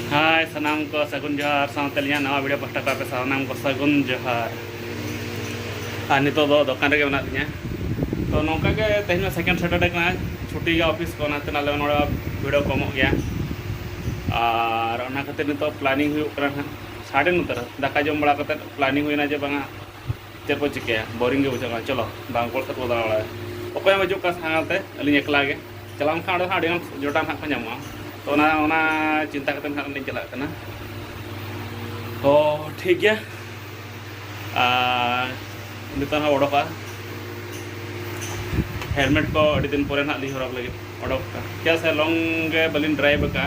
ᱦᱟᱭ ᱥᱟᱱᱟᱢ ᱠᱚ ᱥᱟᱹᱜᱩᱱ ᱡᱚᱦᱟᱨ ᱥᱟᱶᱛᱮ ᱟᱹᱞᱤᱧᱟᱜ ᱱᱟᱣᱟ ᱵᱷᱤᱰᱤᱭᱳ ᱯᱟᱥᱴᱟ ᱠᱚ ᱟᱯᱮ ᱥᱟᱱᱟᱢ ᱠᱚ ᱥᱟᱹᱜᱩᱱ ᱡᱚᱦᱟᱨ ᱟᱨ ᱱᱤᱛᱚᱜ ᱫᱚ ᱫᱚᱠᱟᱱ ᱨᱮᱜᱮ ᱢᱮᱱᱟᱜ ᱞᱤᱧᱟ ᱛᱚ ᱱᱚᱝᱠᱟ ᱜᱮ ᱛᱮᱦᱮᱧ ᱢᱟ ᱥᱮᱠᱮᱱᱰ ᱥᱮᱴᱟᱨᱰᱮ ᱠᱟᱱᱟ ᱪᱷᱩᱴᱤ ᱜᱮᱭᱟ ᱚᱯᱷᱤᱥ ᱠᱚ ᱚᱱᱟᱛᱮ ᱟᱞᱮ ᱱᱚᱰᱮ ᱵᱷᱤᱲᱚ ᱠᱚᱢᱚᱜ ᱜᱮᱭᱟ ᱟᱨ ᱚᱱᱟ ᱠᱷᱟᱹᱛᱤᱨ ᱱᱤᱛᱚᱜ ᱯᱞᱟᱱᱤᱝ ᱦᱩᱭᱩᱜ ᱠᱟᱱᱟ ᱦᱟᱸᱜ ᱥᱟᱰᱮ ᱱᱚᱛᱮ ᱨᱮ ᱫᱟᱠᱟ ᱡᱚᱢ ᱵᱟᱲᱟ ᱠᱟᱛᱮᱫ ᱯᱞᱟᱱᱤᱝ ᱦᱩᱭᱱᱟ ᱡᱮ ᱵᱟᱝᱟ ᱪᱮᱫ ᱠᱚ ᱪᱤᱠᱟᱹᱭᱟ ᱵᱳᱨᱤᱝ ᱜᱮ ᱵᱩᱡᱷᱟᱹᱜ ᱠᱟᱱᱟ ᱪᱚᱞᱚ ᱵᱟᱝ ᱠᱚᱲ ᱥᱮᱫ ᱵᱚ ᱫᱟᱬᱟ ᱵᱟᱲᱟᱭᱟ ᱚᱠᱚᱭ ᱦᱚᱸ ᱵᱟᱹᱪᱩᱜ ᱠᱚᱣᱟ ᱥᱟᱶᱛᱮ ᱟᱹᱞᱤᱧ ᱮᱠᱞᱟ ᱜᱮ ᱪᱟᱞᱟᱣ ᱞᱮᱱᱠᱷᱟᱱ ᱚᱸᱰᱮ ᱦᱟᱸᱜ ᱟᱹᱰᱤᱜᱟᱱ ᱡᱚᱴᱟ ᱱᱟᱦᱟᱜ ᱠᱚ ᱧᱟᱢᱚᱜᱼᱟ ᱛᱚ ᱚᱱᱟ ᱚᱱᱟ ᱪᱤᱱᱛᱟ ᱠᱟᱛᱮ ᱱᱟᱦᱟᱜ ᱞᱤᱧ ᱪᱟᱞᱟᱜ ᱠᱟᱱᱟ ᱛᱚ ᱴᱷᱤᱠ ᱜᱮᱭᱟ ᱟᱨ ᱱᱤᱛᱚᱜ ᱦᱚᱸ ᱚᱰᱚᱠᱚᱜᱼᱟ ᱦᱮᱞᱢᱮᱴ ᱠᱚ ᱟᱹᱰᱤ ᱫᱤᱱ ᱯᱚᱨᱮ ᱱᱟᱦᱟᱜ ᱞᱤᱧ ᱦᱚᱨᱚᱜ ᱞᱟᱹᱜᱤᱫ ᱚᱰᱚᱠ ᱠᱟᱜᱼᱟ ᱪᱮᱫᱟᱜ ᱥᱮ ᱞᱚᱝ ᱜᱮ ᱵᱟᱹᱞᱤᱧ ᱰᱨᱟᱭᱤᱵᱷ ᱟᱠᱟᱫᱼᱟ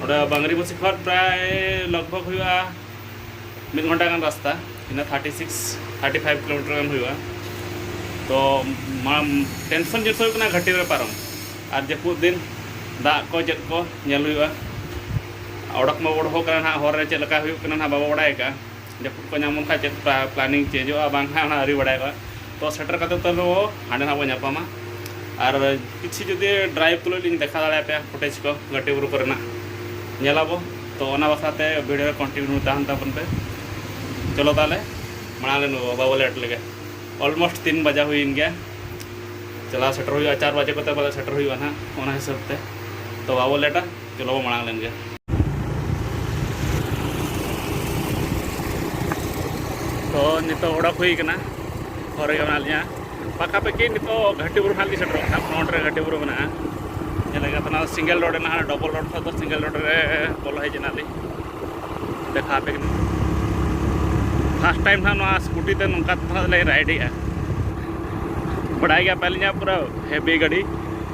ᱚᱸᱰᱮ ᱵᱟᱝᱨᱤᱯᱚᱥᱤ ᱠᱷᱚᱱ ᱯᱨᱟᱭ ᱞᱚᱜᱽ ᱵᱷᱚᱜᱽ ᱦᱩᱭᱩᱜᱼᱟ ᱢᱤᱫ ᱜᱷᱚᱱᱴᱟ ᱜᱟᱱ ᱨᱟᱥᱛᱟ ᱤᱱᱟᱹ thirty six thirty five kilometre ᱜᱟᱱ ᱦᱩᱭᱩᱜᱼᱟ ᱛᱚ ᱴᱮᱱᱥᱚᱱ ᱡᱤᱱᱤᱥ ᱦᱩᱭᱩᱜ ᱠᱟᱱᱟ ᱜᱷᱟᱹᱴᱤ ᱨᱮ ᱯᱟᱨᱚᱢ ᱟᱨ ᱡᱟᱹᱯᱩᱫ ᱫᱤᱱ ᱫᱟᱜ ᱠᱚ ᱪᱮᱫ ᱠᱚ ᱧᱮᱞ ᱦᱩᱭᱩᱜᱼᱟ ᱚᱰᱚᱠ ᱢᱟ ᱚᱰᱚᱠᱚᱜ ᱠᱟᱱᱟ ᱱᱟᱦᱟᱜ ᱦᱚᱨ ᱨᱮ ᱪᱮᱫ ᱞᱮᱠᱟ ᱦᱩᱭᱩᱜ ᱠᱟᱱᱟ ᱱᱟᱦᱟᱜ ᱵᱟᱵᱚ ᱵᱟᱲᱟᱭ ᱟᱠᱟᱫᱼᱟ ᱡᱟᱹᱯᱩᱫ ᱠᱚ ᱧᱟᱢ ᱞᱮᱱᱠᱷᱟᱱ ᱪᱮᱫ ᱯᱞᱟᱱᱤᱝ ᱪᱮᱧᱡᱚᱜᱼᱟ ᱵᱟᱝ ᱦᱟᱸᱜ ᱚᱱᱟ ᱟᱹᱣᱨᱤ ᱵᱟᱲᱟᱭᱚᱜᱼᱟ ᱛᱚ ᱥᱮᱴᱮᱨ ᱠᱟᱛᱮᱫ ᱛᱟᱹᱣ ᱨᱮᱦᱚᱸ ᱦᱟᱸᱰᱮ ᱱᱟᱦᱟᱜ ᱵᱚ ᱧᱟᱯᱟᱢᱟ ᱟᱨ ᱠᱤᱪᱷᱩ ᱡᱩᱫᱤ ᱰᱨᱟᱭᱤᱵᱷ ᱛᱩᱞᱩᱡ ᱞᱤᱧ ᱫᱮᱠᱷᱟᱣ ᱫᱟᱲᱮᱭᱟᱯᱮᱭᱟ ᱯᱷᱩᱴᱮᱡᱽ ᱠᱚ ᱜᱷᱟᱹᱴᱤ ᱵᱩᱨᱩ ᱠᱚᱨᱮᱱᱟᱜ ᱧᱮᱞᱟᱵᱚ ᱛᱚ ᱚᱱᱟ ᱵᱟᱠᱷᱨᱟ ᱛᱮ ᱵᱷᱤᱰᱤᱭᱳ ᱨᱮ ᱠᱚᱱᱴᱤᱱᱤᱭᱩ ᱛᱟᱦᱮᱱ ᱛᱟᱵᱚᱱ ᱯᱮ ᱪᱚᱞᱚ ᱛᱟᱦᱚᱞᱮ ᱢᱟᱲᱟᱝ ᱨᱮ ᱱᱩᱭ ᱵᱟᱵᱟ ᱵᱚ ᱞᱮᱴ ᱞᱮᱜᱮ ᱚᱞᱢᱳᱥᱴ ᱛᱤᱱ ᱵᱟᱡᱟ ᱦᱩᱭᱮᱱ ᱜᱮᱭᱟ ᱪᱟᱞᱟᱣ ᱥᱮᱴᱮᱨ ᱦᱩᱭᱩᱜᱼᱟ ᱪᱟᱨ ᱵᱟᱡᱮ ᱠᱚᱛᱮ ᱵᱚᱞᱮ ᱥᱮᱴᱮᱨ ᱦᱩᱭᱩᱜᱼᱟ ᱱᱟᱦᱟᱜ ᱚᱱᱟ ᱦᱤᱥᱟᱹᱵ ᱛᱮ ᱛᱚ ᱵᱟᱵᱚ ᱞᱮᱴᱟ ᱪᱚᱞᱚ ᱵᱚ ᱢᱟᱲᱟᱝ ᱞᱮᱱ ᱜᱮ ᱛᱚ ᱱᱤᱛᱚᱜ ᱚᱰᱚᱠ ᱦᱩᱭ ᱠᱟᱱᱟ ᱦᱚᱨ ᱨᱮᱜᱮ ᱢᱮᱱᱟᱜ ᱞᱤᱧᱟ ᱯᱟᱠᱟᱯᱟᱠᱤ ᱱᱤᱛᱚᱜ ᱜᱷᱟᱴᱤ ᱵᱩᱨᱩ ᱦᱟᱸᱜ ᱞᱤᱧ ᱥᱮᱴᱮᱨᱚᱜ ᱠᱟᱱᱟ ᱯᱷᱨᱚᱱᱴ ᱨᱮ ᱜᱷᱟᱴᱤ ᱵᱩᱨᱩ ᱢᱮᱱᱟᱜᱼᱟ ᱧᱮᱞ ᱞᱮᱠᱟ ᱛᱟᱦᱮᱱᱟ ᱥᱤᱝᱜᱮᱞ ᱨᱳᱰ ᱨᱮᱱᱟᱜ ᱰᱚᱵᱚᱞ ᱨᱳᱰ ᱠᱷᱚᱱ ᱫᱚ ᱥᱤᱝᱜᱮᱞ ᱨᱳᱰ ᱨᱮ ᱵᱚᱞᱚ ᱦᱮᱡ ᱮᱱᱟ ᱞᱤᱧ ᱫᱮᱠᱷᱟ ᱟᱯᱮ ᱠᱟᱹᱱᱟᱹᱧ ᱯᱷᱟᱥᱴ ᱴᱟᱭᱤᱢ ᱦᱟᱸᱜ ᱱᱚᱣᱟ ᱥᱠᱩᱴᱤ ᱛᱮ ᱱᱚᱝᱠᱟ ᱛᱮ ᱦᱟᱸᱜ ᱞᱤᱧ ᱨᱟᱭᱤᱰᱮᱜᱼᱟ ᱵᱟᱰᱟᱭ ᱜᱮᱭᱟ ᱯᱮ ᱟᱹᱞᱤᱧᱟᱜ ᱯᱩᱨᱟᱹ ᱦᱮᱵᱤ ᱜᱟᱹᱰᱤ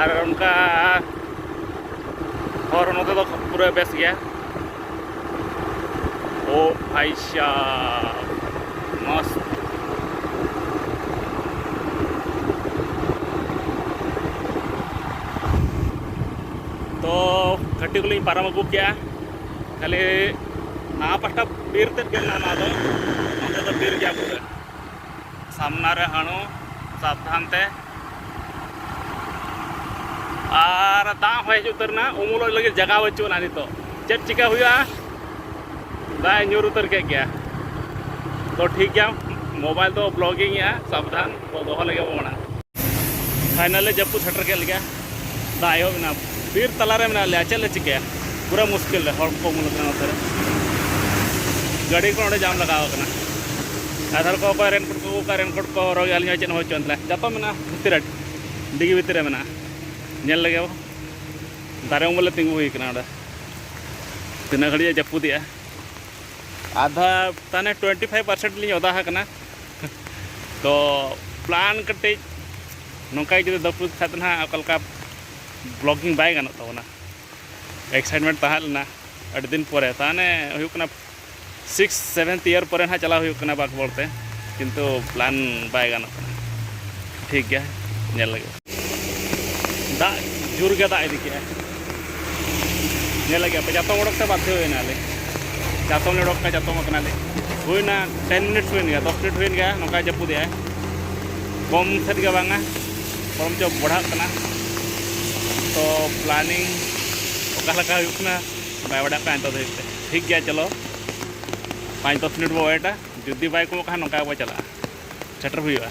ᱟᱨ ᱚᱱᱠᱟ ᱦᱚᱨ ᱱᱚᱛᱮ ᱫᱚ ᱯᱩᱨᱟᱹ ᱵᱮᱥ ᱜᱮᱭᱟ ᱳ ᱵᱷᱟᱭ ᱥᱟᱦ ᱢᱚᱥ ᱛᱚ ᱜᱷᱟᱹᱴᱤ ᱠᱚᱞᱤᱧ ᱯᱟᱨᱚᱢ ᱟᱹᱜᱩ ᱠᱮᱜᱼᱟ ᱠᱷᱟᱹᱞᱤ ᱱᱟᱣᱟ ᱯᱟᱦᱴᱟ ᱵᱤᱨ ᱛᱮᱫ ᱜᱮ ᱢᱮᱱᱟᱜᱼᱟ ᱱᱚᱣᱟ ᱫᱚ ᱱᱚᱛᱮ ᱫᱚ ᱵᱤᱨ ᱜᱮᱭᱟ ᱯᱩᱨᱟᱹ ᱥᱟᱢᱱᱟ ᱨᱮ ᱦᱟᱹᱬᱩ ᱥᱟᱵᱫᱷᱟᱱ ᱛᱮ ᱟᱨ ᱫᱟᱜ ᱦᱚᱭ ᱦᱤᱡᱩᱜ ᱩᱛᱟᱹᱨ ᱮᱱᱟ ᱩᱢᱩᱞᱚᱜ ᱞᱟᱹᱜᱤᱫ ᱡᱟᱭᱜᱟ ᱵᱟᱹᱪᱩᱜ ᱟᱱᱟ ᱱᱤᱛᱚᱜ ᱪᱮᱫ ᱪᱤᱠᱟᱹ ᱦᱩᱭᱩᱜᱼᱟ ᱫᱟᱜ ᱧᱩᱨ ᱩᱛᱟᱹᱨ ᱠᱮᱫ ᱜᱮᱭᱟ ᱛᱚ ᱴᱷᱤᱠ ᱜᱮᱭᱟ ᱢᱳᱵᱟᱭᱤᱞ ᱫᱚ ᱵᱞᱚᱜᱤᱝ ᱮᱜᱼᱟ ᱥᱟᱵᱫᱷᱟᱱ ᱫᱚᱦᱚ ᱞᱮᱜᱮ ᱵᱚ ᱢᱟᱲᱟᱝ ᱯᱷᱟᱭᱱᱟᱞᱮ ᱡᱟᱹᱯᱩᱫ ᱥᱮᱴᱮᱨ ᱠᱮᱫ ᱞᱮᱜᱮ ᱫᱟᱜ ᱮᱦᱚᱵ ᱮᱱᱟ ᱵᱤᱨ ᱛᱟᱞᱟᱨᱮ ᱢᱮᱱᱟᱜ ᱞᱮᱭᱟ ᱪᱮᱫ ᱞᱮ ᱪᱤᱠᱟᱹᱭᱟ ᱯᱩᱨᱟᱹ ᱢᱩᱥᱠᱤᱞ ᱨᱮ ᱦᱚᱲ ᱠᱚ ᱩᱢᱩᱞ ᱟᱠᱟᱱᱟ ᱱᱚᱛᱮ ᱨᱮ ᱜᱟᱹᱰᱤ ᱠᱚ ᱚᱸᱰᱮ ᱡᱟᱢ ᱞᱟᱜᱟᱣ ᱟᱠᱟᱱᱟ ᱟᱫᱷᱟᱨ ᱠᱚ ᱚᱠᱚᱭ ᱨᱮᱱᱠᱳᱴ ᱠᱚ ᱚᱠᱟ ᱨᱮᱱᱠᱳᱴ ᱠᱚ ᱦᱚᱨᱚᱜ ᱟᱹᱞᱤᱧ ᱦᱚᱸ ᱪᱮᱫ ᱦᱚᱸ ᱵᱟᱹᱪᱩᱜ ᱟᱱ ᱛᱟᱞᱮ ᱡᱚᱛᱚ ᱢᱮᱱᱟᱜᱼᱟ ᱵᱷᱤᱛᱤᱨ ᱨᱮ ᱰᱤᱜᱤ ᱵᱷᱤᱛᱤᱨ ᱨᱮ ᱢᱮᱱᱟᱜᱼᱟ ᱧᱮᱞ ᱞᱮᱜᱮ ᱵᱚ ᱫᱟᱨᱮ ᱩᱢᱩᱞ ᱞᱮ ᱛᱤᱸᱜᱩ ᱦᱩᱭ ᱟᱠᱟᱱᱟ ᱚᱸᱰᱮ ᱛᱤᱱᱟᱹᱜ ᱜᱷᱟᱹᱲᱤᱡ ᱮ ᱡᱟᱹᱯᱩᱫᱮᱜᱼᱟ ᱟᱫᱷᱟ ᱛᱟᱱᱮ ᱴᱩᱭᱮᱱᱴᱤ ᱯᱷᱟᱭᱤᱵᱷ ᱯᱟᱨᱥᱮᱱᱴ ᱞᱤᱧ ᱚᱫᱟ ᱟᱠᱟᱱᱟ ᱛᱚ ᱯᱞᱟᱱ ᱠᱟᱹᱴᱤᱡ ᱱᱚᱝᱠᱟ ᱡᱩᱫᱤ ᱫᱟᱹᱯᱩᱫ ᱠᱷᱟᱡ ᱫᱚ ᱱᱟᱦᱟᱜ ᱚᱠᱟ ᱞᱮᱠᱟ ᱵᱞᱚᱜᱤᱝ ᱵᱟᱭ ᱜᱟᱱᱚᱜ ᱛᱟᱵᱚᱱᱟ ᱮᱠᱥᱟᱭᱤᱴᱢᱮᱱᱴ ᱛᱟᱦᱮᱸ ᱞᱮᱱᱟ ᱟᱹᱰᱤ ᱫᱤᱱ ᱯᱚᱨᱮ ᱛᱟᱦᱚᱞᱮ ᱦᱩᱭᱩᱜ ᱠᱟᱱᱟ ᱥᱤᱠᱥ ᱥᱮᱵᱷᱮᱱᱛᱷ ᱤᱭᱟᱨ ᱯᱚᱨᱮ ᱱᱟᱦᱟᱜ ᱪᱟᱞᱟᱣ ᱦᱩᱭᱩᱜ ᱠᱟᱱᱟ ᱵᱟᱸᱠᱵᱚᱲ ᱛᱮ ᱠᱤᱱᱛᱩ ᱯᱞᱟᱱ ᱵᱟᱭ ᱜᱟᱱᱚᱜ ᱠᱟᱱᱟ ᱴᱷᱤᱠ ᱜᱮᱭᱟ ᱧᱮᱞ ᱞᱟᱹᱜᱤᱫ ᱫᱟᱜ ᱡᱳᱨ ᱜᱮ ᱫᱟᱜ ᱤᱫᱤ ᱠᱮᱜᱼᱟ ᱧᱮᱞ ᱞᱟᱹᱜᱤᱫ ᱟᱯᱮ ᱡᱟᱛᱚᱢ ᱚᱰᱚᱠ ᱛᱮ ᱵᱟᱫᱽᱫᱷᱚ ᱦᱩᱭᱱᱟᱞᱮ ᱡᱟᱛᱚᱢ ᱞᱮ ᱚᱰᱚᱠ ᱠᱟᱜᱼᱟ ᱡᱟᱛᱚᱢ ᱟᱠᱟᱱᱟᱞᱮ ᱦᱩᱭᱱᱟ ᱴᱮᱱ ᱢᱤᱱᱤᱴᱥ ᱦᱩᱭᱮᱱ ᱜᱮᱭᱟ ᱫᱚᱥ ᱢᱤᱱᱤᱴ ᱦᱩᱭᱮᱱ ᱜᱮᱭᱟ ᱱᱚᱝᱠᱟ ᱡᱟᱹᱯᱩᱫᱮᱜᱼᱟᱭ ᱠᱚᱢ ᱥᱮᱫ ᱜᱮ ᱵᱟᱝᱟ ᱵᱚᱨᱚᱝ ᱪᱚ ᱵᱟᱲᱦᱟᱜ ᱠᱟᱱᱟ ᱛᱚ ᱯᱞᱟᱱᱤᱝ ᱚᱠᱟ ᱞᱮᱠᱟ ᱦᱩᱭᱩᱜ ᱠᱟᱱᱟ ᱵᱟᱭ ᱵᱟᱰᱟᱜ ᱠᱟᱱᱟ ᱱᱤᱛᱚᱜ ᱫᱷᱟᱹᱵᱤᱡ ᱛᱮ ᱴᱷᱤᱠ ᱜᱮᱭᱟ ᱪᱚᱞᱚ ᱯᱟᱸᱪ ᱫᱚᱥ ᱢᱤᱱᱤᱴ ᱵᱚ ᱚᱭᱮᱴᱟ ᱡᱩᱫᱤ ᱵᱟᱭ ᱠᱚᱢᱚᱜ ᱠᱷᱟᱱ ᱱᱚᱝᱠᱟ ᱜᱮᱵᱚ ᱪᱟᱞᱟᱜᱼᱟ ᱥᱮᱴᱮᱨ ᱦᱩᱭᱩᱜᱼᱟ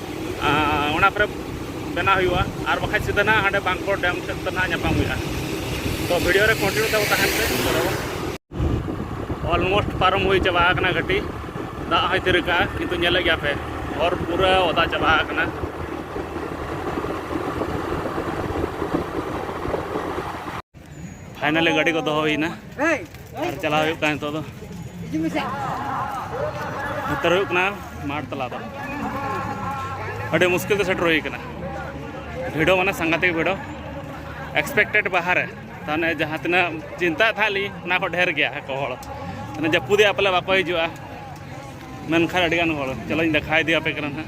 ᱚᱱᱟ ᱠᱚᱨᱮ ᱵᱮᱱᱟᱣ ᱦᱩᱭᱩᱜᱼᱟ ᱟᱨ ᱵᱟᱠᱷᱟᱡ ᱥᱤᱫᱷᱟᱹ ᱱᱟᱦᱟᱜ ᱦᱟᱸᱰᱮ ᱵᱟᱝᱠᱚᱲ ᱰᱮᱢ ᱥᱮᱫ ᱛᱮ ᱱᱟᱦᱟᱜ ᱧᱟᱯᱟᱢ ᱦᱩᱭᱩᱜᱼᱟ ᱛᱚ ᱵᱷᱤᱰᱤᱭᱳ ᱨᱮ ᱠᱚᱱᱴᱤᱱᱤᱭᱩ ᱛᱟᱵᱚ ᱛᱟᱦᱮᱱ ᱯᱮ ᱚᱞᱢᱳᱥᱴ ᱯᱟᱨᱚᱢ ᱦᱩᱭ ᱪᱟᱵᱟ ᱟᱠᱟᱱᱟ ᱜᱟᱹᱰᱤ ᱫᱟᱜ ᱦᱚᱸᱭ ᱛᱤᱨ ᱟᱠᱟᱜᱼᱟ ᱠᱤᱱᱛᱩ ᱧᱮᱞᱮᱫ ᱜᱮᱭᱟ ᱯᱮ ᱦᱚᱨ ᱯᱩᱨᱟᱹ ᱚᱫᱟ ᱪᱟᱵᱟ ᱟᱠᱟᱱᱟ ᱯᱷᱟᱭᱱᱟᱞᱤ ᱜᱟᱹᱰᱤ ᱠᱚ ᱫᱚᱦᱚ ᱦᱩᱭᱱᱟ ᱟᱨ ᱪᱟᱞᱟᱣ ᱦᱩᱭᱩᱜ ᱠᱟᱱᱟ ᱱᱤᱛᱚᱜ ᱫᱚ ᱩᱛᱟᱹᱨ ᱦᱩᱭᱩᱜ ᱠᱟᱱᱟ ᱢᱟᱴ ᱛᱟᱞᱟ ᱫᱚ ᱟᱹᱰᱤ ᱢᱩᱥᱠᱤᱞ ᱛᱮ ᱥᱮᱴᱮᱨ ᱦᱩᱭ ᱠᱟᱱᱟ ᱵᱷᱤᱲᱚ ᱢᱟᱱᱮ ᱥᱟᱝᱜᱟᱛᱤᱠ ᱵᱷᱤᱲᱚ ᱮᱠᱥᱯᱮᱠᱴᱮᱰ ᱵᱟᱦᱟᱨ ᱨᱮ ᱛᱟᱦᱚᱞᱮ ᱡᱟᱦᱟᱸ ᱛᱤᱱᱟᱹᱜ ᱪᱤᱱᱛᱟᱹ ᱛᱟᱦᱮᱸ ᱞᱤᱧ ᱚᱱᱟ ᱠᱷᱚᱱ ᱰᱷᱮᱨ ᱜᱮᱭᱟ ᱠᱚ ᱦᱚᱲ ᱡᱟᱹᱯᱩᱫᱮᱜᱼᱟ ᱯᱟᱞᱮ ᱵᱟᱠᱚ ᱦᱤᱡᱩᱜᱼᱟ ᱢᱮᱱᱠᱷᱟᱱ ᱟᱹᱰᱤ ᱜᱟᱱ ᱦᱚᱲ ᱪᱚᱞᱚᱧ ᱫᱮᱠᱷᱟ ᱤᱫᱤ ᱟᱯᱮ ᱠᱟᱱᱟ ᱱᱟᱜ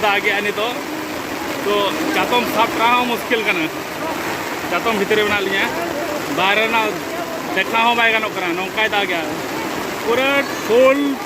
ᱫᱟᱜ ᱜᱮᱭᱟ ᱱᱤᱛᱚᱜ ᱛᱚ ᱪᱟᱛᱚᱢ ᱥᱟᱵ ᱨᱮᱱᱟᱜ ᱦᱚᱸ ᱢᱩᱥᱠᱤᱞ ᱠᱟᱱᱟ ᱪᱟᱛᱚᱢ ᱵᱷᱤᱛᱨᱤ ᱨᱮ ᱢᱮᱱᱟᱜ ᱞᱤᱧᱟ ᱵᱟᱦᱨᱮ ᱨᱮᱱᱟᱜ ᱫᱮᱠᱷᱟᱣ ᱦᱚᱸ ᱵᱟᱭ ᱜᱟᱱᱚᱜ ᱠᱟᱱᱟ ᱱᱚᱝᱠᱟᱭ ᱫᱟᱜ ᱜᱮᱭᱟ ᱯᱩᱨᱟᱹ ᱯᱷᱩᱞ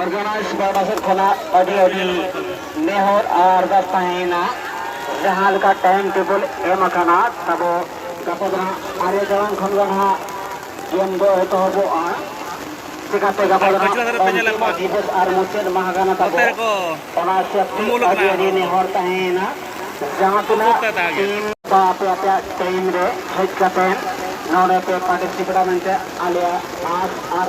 ᱚᱨᱜᱟᱱᱟᱭᱤᱡᱽ ᱯᱟᱦᱴᱟ ᱥᱮᱫ ᱠᱷᱚᱱᱟᱜ ᱟᱹᱰᱤ ᱟᱹᱰᱤ ᱱᱮᱦᱚᱨ ᱟᱨ ᱟᱨᱫᱟᱥ ᱛᱟᱦᱮᱸᱭᱮᱱᱟ ᱡᱟᱦᱟᱸ ᱞᱮᱠᱟ ᱴᱟᱭᱤᱢ ᱴᱮᱵᱚᱞ ᱮᱢ ᱟᱠᱟᱱᱟ ᱛᱟᱵᱚ ᱜᱟᱯᱟ ᱫᱚ ᱦᱟᱸᱜ ᱟᱨᱮ ᱴᱟᱲᱟᱝ ᱠᱷᱚᱱ ᱜᱮ ᱦᱟᱸᱜ ᱜᱮᱢ ᱫᱚ ᱮᱛᱚᱦᱚᱵᱚᱜᱼᱟ ᱪᱤᱠᱟᱛᱮ ᱜᱟᱯᱟ ᱫᱚ ᱦᱟᱸᱜ ᱚᱱᱛᱤᱢ ᱫᱤᱵᱚᱥ ᱟᱨ ᱢᱩᱪᱟᱹᱫ ᱢᱟᱦᱟ ᱠᱟᱱᱟ ᱛᱟᱵᱚ ᱚᱱᱟ ᱦᱤᱥᱟᱹᱵ ᱛᱮ ᱟᱹᱰᱤ ᱟᱹᱰᱤ ᱱᱮᱦᱚᱨ ᱛᱟᱦᱮᱸᱭᱮᱱᱟ ᱡᱟᱦᱟᱸ ᱛᱤᱱᱟᱹᱜ ᱴᱤᱢ ᱵᱟ ᱟᱯᱮ ᱟᱯᱮᱭᱟᱜ ᱴᱟᱭᱤᱢ ᱨᱮ ᱦᱮᱡ ᱠᱟᱛᱮ ᱱᱚᱰᱮ ᱯᱮ ᱯᱟᱨᱴᱤᱥᱤᱯᱮᱴᱟ ᱢᱮᱱᱛᱮ ᱟᱞᱮᱭᱟᱜ ᱟᱥ ᱟᱨ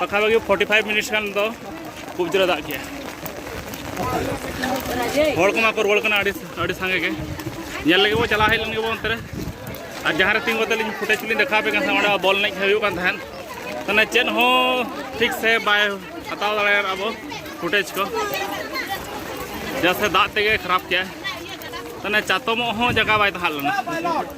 ᱯᱟᱠᱷᱟᱯᱟᱠᱷᱤ ᱯᱷᱳᱨᱴᱤ ᱯᱷᱟᱭᱤᱵᱷ ᱢᱤᱱᱤᱴᱥ ᱜᱟᱱ ᱫᱚ ᱠᱷᱩᱵ ᱡᱳᱨᱮ ᱫᱟᱜ ᱠᱮᱜᱼᱟ ᱦᱚᱲ ᱠᱚᱢᱟ ᱠᱚ ᱨᱩᱣᱟᱹᱲ ᱠᱟᱱᱟ ᱟᱹᱰᱤ ᱟᱹᱰᱤ ᱥᱟᱸᱜᱮ ᱜᱮ ᱧᱮᱞ ᱞᱟᱹᱜᱤᱫ ᱵᱚ ᱪᱟᱞᱟᱣ ᱦᱮᱡ ᱞᱮᱱ ᱜᱮᱵᱚ ᱚᱱᱛᱮ ᱨᱮ ᱟᱨ ᱡᱟᱦᱟᱸ ᱨᱮ ᱛᱤᱸᱜᱩ ᱠᱟᱛᱮ ᱞᱤᱧ ᱯᱷᱩᱴᱮᱡᱽ ᱞᱤᱧ ᱫᱮᱠᱷᱟᱣ ᱟᱯᱮ ᱠᱟᱱ ᱛᱟᱦᱮᱸᱫ ᱚᱸᱰᱮ ᱵᱚᱞ ᱮᱱᱮᱡ ᱦᱩᱭᱩᱜ ᱠᱟᱱ ᱛᱟᱦᱮᱸᱫ ᱢᱟᱱᱮ ᱪᱮᱫ ᱦᱚᱸ ᱴᱷᱤᱠ ᱥᱮ ᱵᱟᱭ ᱦᱟᱛᱟᱣ ᱫᱟᱲᱮᱭᱟᱜ ᱟᱵᱚ ᱯᱷᱩᱴᱮᱡᱽ ᱠᱚ ᱡᱟᱥᱮ ᱫᱟᱜ ᱛᱮᱜᱮ ᱠᱷᱟᱨᱟᱯ ᱠᱮᱜᱼᱟᱭ ᱢᱟᱱᱮ ᱪᱟᱛᱚᱢᱚᱜ ᱦᱚᱸ ᱡᱟᱭᱜᱟ ᱵᱟᱭ ᱛᱟᱦᱮᱸ ᱞᱮᱱᱟ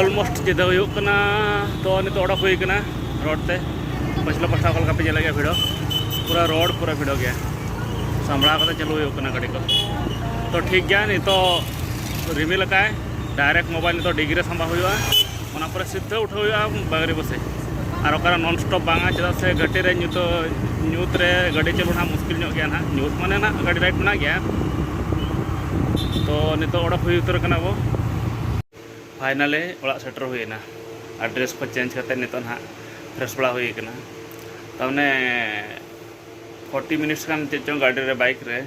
ᱚᱞᱢᱳᱥᱴ ᱡᱮᱫᱟ ᱦᱩᱭᱩᱜ ᱠᱟᱱᱟ ᱛᱚ ᱱᱤᱛᱚᱜ ᱚᱰᱚᱠ ᱦᱩᱭ ᱠᱟᱱᱟ ᱨᱳᱰ ᱛᱮ ᱯᱟᱪᱷᱞᱟ ᱯᱟᱥᱴᱟ ᱚᱠᱟ ᱞᱮᱠᱟ ᱯᱮ ᱧᱮᱞᱮᱫ ᱜᱮᱭᱟ ᱵᱷᱤᱲᱚ ᱯᱩᱨᱟᱹ ᱨᱳᱰ ᱯᱩᱨᱟᱹ ᱵᱷᱤᱲᱚ ᱜᱮᱭᱟ ᱥᱟᱢᱵᱲᱟᱣ ᱠᱟᱛᱮ ᱪᱟᱹᱞᱩ ᱦᱩᱭᱩᱜ ᱠᱟᱱᱟ ᱜᱟᱹᱰᱤ ᱠᱚ ᱛᱚ ᱴᱷᱤᱠ ᱜᱮᱭᱟ ᱱᱤᱛᱚᱜ ᱨᱤᱢᱤᱞ ᱟᱠᱟᱫ ᱟᱭ ᱰᱟᱭᱨᱮᱠᱴ ᱢᱳᱵᱟᱭᱤᱞ ᱱᱤᱛᱚᱜ ᱰᱤᱜᱽ ᱨᱮ ᱥᱟᱢᱵᱟᱣ ᱦᱩᱭᱩᱜᱼᱟ ᱚᱱᱟ ᱯᱚᱨᱮ ᱥᱤᱫᱷᱟᱹ ᱩᱴᱷᱟᱹᱣ ᱦᱩᱭᱩᱜᱼᱟ ᱵᱟᱝᱨᱤ ᱵᱚᱥᱮ ᱟᱨ ᱚᱠᱟᱨᱮ ᱱᱚᱱ ᱥᱴᱚᱯ ᱵᱟᱝᱟ ᱪᱮᱫᱟᱜ ᱥᱮ ᱜᱷᱟᱹᱴᱤ ᱨᱮ ᱧᱩᱛᱚ ᱧᱩᱛ ᱨᱮ ᱜᱟᱹᱰᱤ ᱪᱟᱹᱞᱩ ᱱᱟᱦᱟᱜ ᱢᱩᱥᱠᱤᱞ ᱧᱚᱜ ᱜᱮᱭᱟ ᱱᱟᱦᱟᱜ ᱧᱩᱛ ᱢᱟᱱᱮ ᱱᱟᱦᱟᱜ ᱜᱟᱹᱰᱤ ᱨᱟᱭᱤᱰ ᱢᱮᱱᱟᱜ ᱜᱮᱭᱟ ᱛᱚ ᱱᱤᱛᱚᱜ ᱚᱰᱚᱠ ᱦᱩᱭ ᱩᱛᱟᱹᱨ ᱠᱟᱱᱟ ᱵᱚ ᱯᱷᱟᱭᱱᱟᱞᱮ ᱚᱲᱟᱜ ᱥᱮᱴᱮᱨ ᱦᱩᱭᱮᱱᱟ ᱟᱨ ᱰᱨᱮᱥ ᱠᱚ ᱪᱮᱧᱡᱽ ᱠᱟᱛᱮ ᱱᱤᱛᱚᱜ ᱱᱟᱦᱟᱜ ᱯᱷᱨᱮᱥ ᱵᱟᱲᱟ ᱦᱩᱭ ᱠᱟᱱᱟ ᱛᱟᱨᱢᱟᱱᱮ ᱯᱷᱳᱨᱴᱤ ᱢᱤᱱᱤᱴᱥ ᱜᱟᱱ ᱪᱮᱫ ᱪᱚᱝ ᱜᱟᱹᱰᱤ ᱨᱮ ᱵᱟᱭᱤᱠ ᱨᱮ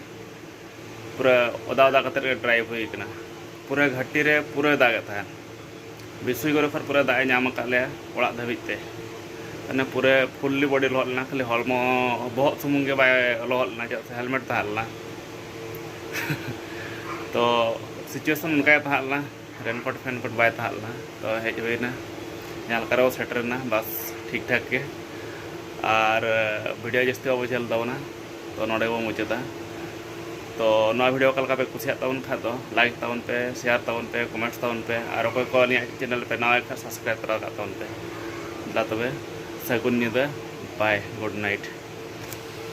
ᱯᱩᱨᱟᱹ ᱚᱫᱟ ᱚᱫᱟ ᱠᱟᱛᱮ ᱜᱮ ᱰᱨᱟᱭᱤᱵᱷ ᱦᱩᱭ ᱠᱟᱱᱟ ᱯᱩᱨᱟᱹ ᱜᱷᱟᱹᱴᱤ ᱨᱮ ᱯᱩᱨᱟᱹᱭ ᱫᱟᱜᱮᱫ ᱛᱟᱦᱮᱸᱫ ᱵᱤᱥᱩᱭ ᱜᱚᱨᱮᱯᱷᱟᱨ ᱯᱩᱨᱟᱹ ᱫᱟᱜ ᱮ ᱧᱟᱢ ᱟᱠᱟᱫ ᱞᱮᱭᱟ ᱚᱲᱟᱜ ᱫᱷᱟᱹᱵᱤᱡ ᱛᱮ ᱢᱟᱱᱮ ᱯᱩᱨᱟᱹ ᱯᱷᱩᱞᱞᱤ ᱵᱚᱰᱤ ᱞᱚᱦᱚᱫ ᱞᱮᱱᱟ ᱠᱷᱟᱹᱞᱤ ᱦᱚᱲᱢᱚ ᱵᱚᱦᱚᱜ ᱥᱩᱢᱩᱝ ᱜᱮ ᱵᱟᱭ ᱞᱚᱦᱚᱫ ᱞᱮᱱᱟ ᱪᱮᱫᱟᱜ ᱥᱮ ᱦᱮᱞᱢᱮᱴ ᱛᱟᱦᱮᱸ ᱞᱮᱱᱟ ᱛᱚ ᱥᱤᱪᱩᱭᱮᱥᱚᱱ ᱚᱱᱠᱟ ᱜᱮ ᱛᱟᱦᱮᱸ ᱞᱮᱱᱟ ᱨᱮᱱᱠᱳᱴ ᱯᱷᱮᱱᱠᱳᱴ ᱵᱟᱭ ᱛᱟᱦᱮᱸ ᱞᱮᱱᱟ ᱛᱚ ᱦᱮᱡ ᱦᱩᱭᱱᱟ ᱡᱟᱦᱟᱸ ᱞᱮᱠᱟ ᱨᱮᱵᱚ ᱥᱮᱴᱮᱨᱮᱱᱟ ᱵᱟᱥ ᱴᱷᱤᱠ ᱴᱷᱟᱠ ᱜᱮ ᱟᱨ ᱵᱷᱤᱰᱤᱭᱳ ᱡᱟᱹᱥᱛᱤ ᱵᱟᱵᱚ ᱡᱷᱟᱹᱞ ᱛᱟᱵᱚᱱᱟ ᱛᱚ ᱱᱚᱰᱮ ᱵᱚ ᱢᱩᱪᱟᱹᱫᱟ ᱛᱚ ᱱᱚᱣᱟ ᱵᱷᱤᱰᱤᱭᱳ ᱚᱠᱟ ᱞᱮᱠᱟ ᱯᱮ ᱠᱩᱥᱤᱭᱟᱜ ᱛᱟᱵᱚᱱ ᱠᱷᱟᱱ ᱫᱚ ᱞᱟᱭᱤᱠ ᱛᱟᱵᱚᱱ ᱯᱮ ᱥᱮᱭᱟᱨ ᱛᱟᱵᱚᱱ ᱯᱮ ᱠᱚᱢᱮᱱᱴ ᱛᱟᱵᱚᱱ ᱯᱮ ᱟᱨ ᱚᱠᱚᱭ ᱠᱚ ᱟᱹᱞᱤᱧᱟᱜ ᱪᱮᱱᱮᱞ ᱯᱮ ᱱᱟᱣᱟ ᱠᱷᱟᱱ ᱥᱟᱵᱥᱠᱨᱟᱭᱤᱵ ᱛᱚᱨᱟ ᱠᱟᱜ ᱛᱟᱵᱚᱱ ᱯᱮ ᱫᱟ ᱛᱚᱵᱮ ᱥᱟᱹᱜᱩᱱ ᱧᱤᱫᱟᱹ ᱵᱟᱭ ᱜᱩᱰ ᱱᱟᱭᱤᱴ